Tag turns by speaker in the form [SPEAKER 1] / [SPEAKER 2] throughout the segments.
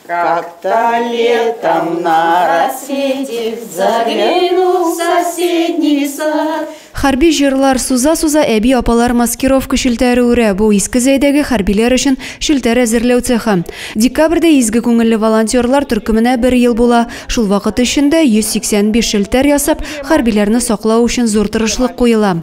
[SPEAKER 1] Как-то летом на рассвете заглянул в соседний сад. Хәрби җырлар суза-суза әби-апалар маскировка челтәре үрә. Бу Иске Зәйдәге хәрбиләр өчен челтәр әзерләү цехы. Декабрьдә изге күңелле волонтерлар төркеменә бер ел була. Шул вакыт эчендә 185 челтәр ясап, хәрбиләрне саклау өчен зур тырышлык куела.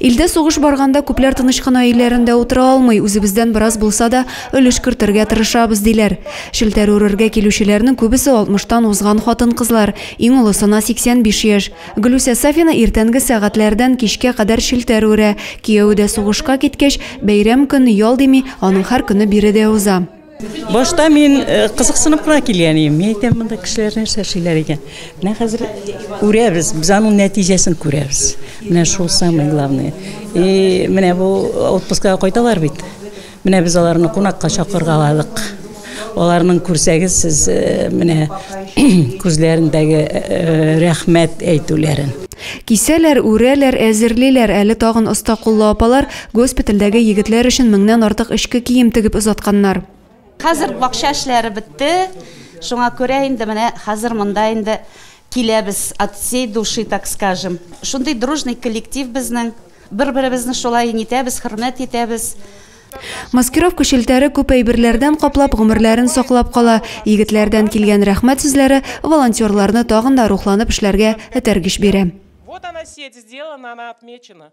[SPEAKER 1] Илдә сугыш барганда, күпләр тыныч кына өйләрендә утыра алмый, үзебездән бераз булса да өлеш кертергә тырышабыз, диләр. Челтәр үрергә килүчеләрнең күбесе алтмыштан узган хатын-кызлар, иң олысына 85 яшь. Гөлүсә Сафина иртәнге сәгатьләрдән кичкә кадәр челтәр үрә. Кияве дә сугышка киткәч, бәйрәм көн, ял дими, аның һәр көне биредә уза. Башта мин э, кызыксынып кына килгән идем. Мин әйтәм, монда кешеләр нәрсә эшлиләр икән. Менә хәзер күрәбез, без аның нәтиҗәсен күрәбез. Менә шул самое главное. И менә бу отпускага кайталар бит. Менә без аларны кунакка чакыргаладык. Аларның күрсәгез сез э, менә күзләрендәге э, рәхмәт әйтүләрен. Кисәләр, үрәләр, әзерлиләр. Әле тагын оста куллы апалар Госпитальдәге егетләр өчен меңнән артык эчке кием тегеп озатканнар. Хәзер бакча эшләре бетте, шуңа күрә инде менә хәзер монда инде киләбез от всей души, так скажем. Шундый дружный коллектив безнең, бер-беребезне шулай нитәбез, хөрмәт итәбез. Маскировка челтәре күп әйберләрдән каплап, гомерләрен саклап кала. Егетләрдән килгән рәхмәт сүзләре волонтерларны тагын да рухланып эшләргә этәргеч бирә. Вот она сеть сделана, она отмечена.